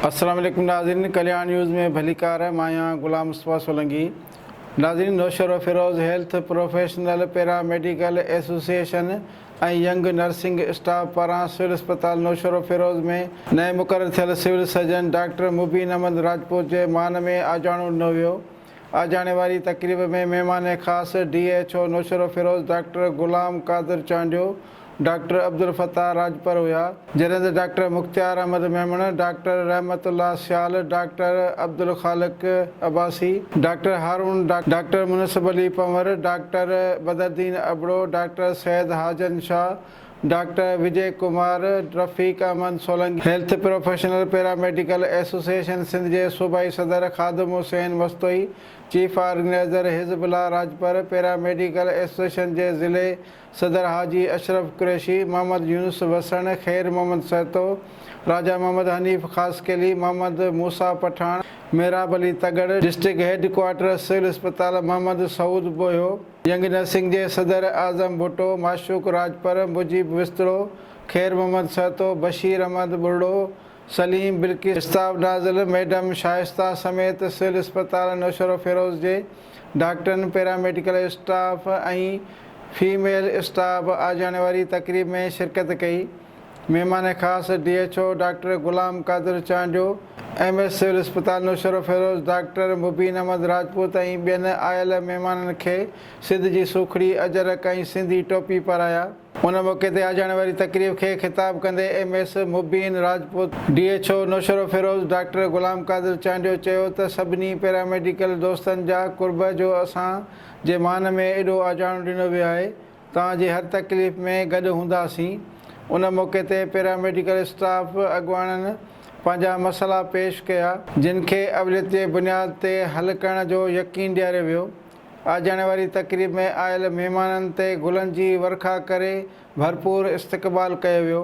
السلام عليڪم ناظرين ڪلياڻ نيوز ۾ ڀليڪار مان آهيان غلام مصطفيٰ سولنگي ناظرين Naushahro Feroze health professional paramedical association ۽ young nursing staff پاران سول اسپتال نوشهروفيروز ۾ نئين مقرر ٿيل civil surgeon doctor Mubeen Ahmed Rajput جي مان ۾ آجاڻو ڏنو ويو آجياڻي واري تقريب ۾ مهمان خاص D H O Naushahro Feroze doctor Ghulam Qadir Chandio, doctor Abdul Fattah Rajpar هيا، جنهن doctor Mukhtiar Ahmed Memon, doctor Rahmat Ullah Sial, doctor Abdul Khaliq Abbasi, doctor Haroon, doctor Munsif Ali Panhwar, doctor Badruddin Abro, doctor Syed Hajan Shah, doctor Vijay Kumar, Rafiq Ahmed Solangi, health professional paramedical association Sindh جي صوبائي صدر Khadim Hussain Mastoi, chief organiser Hizb Ullah Rajpar, paramedical association جي ضلعي صدر حاجي Ashraf Qureshi, Muhammad Younus Wassan, Khair Muhammad Sahto, Raja Muhammad Hanif Khaskheli, Muhammad Musa Pathan, Mehrab Ali Tagar, district head quarter civil اسپتال محمد سعود ٻوهيو، جنگ نه سنگهجي صدر اعظم ڀٽو، معشوق راڄپر، مجيب وسطڙو، خير محمد سهتو، بشير احمد ٻرڙو، سليم بلقيس، شتاب نازل، ميڊم شائسته سميت سول اسپتال نوشهروفيروز جي ڊاڪٽرن، پيراميڊيڪل اسٽاف ۽ فيميل اسٽاف آجياڻي واري تقريب ۾ شرڪت ڪئي. مهمان خاص D H O doctor Ghulam Qadir Chandio, M S civil اسپتال نوشهروفيروز ڊاڪٽر مبين احمد راجپوت ۽ ٻين آيل مهمانن کي سنڌ جي سوکڙي، اجرڪ ۽ سنڌي ٽوپي پارايا. ان موقعي تي آجاڻي واري تقريب کي خطاب ڪندي M S Mubeen Rajput, D H O Naushahro Feroze doctor Ghulam Qadir Chandio چيو ته سڀني پيراميڊيڪل دوستن جا قرب جو اسان جي مان ۾ ايڏو آجاڻو ڏنو ويو آهي، توهان جي هر تڪليف ۾ گڏ هونداسين. ان موقعي تي پيراميڊيڪل اسٽاف اڳواڻن پنهنجا مسئلا پيش ڪيا. جن کي اوليت جي بنياد تي حل ڪرڻ جو يقين ڏياريو ويو. آجياڻي واري تقريب ۾ آيل مهمانن تي گلن جي ورکا ڪري ڀرپور استقبال ڪيو ويو.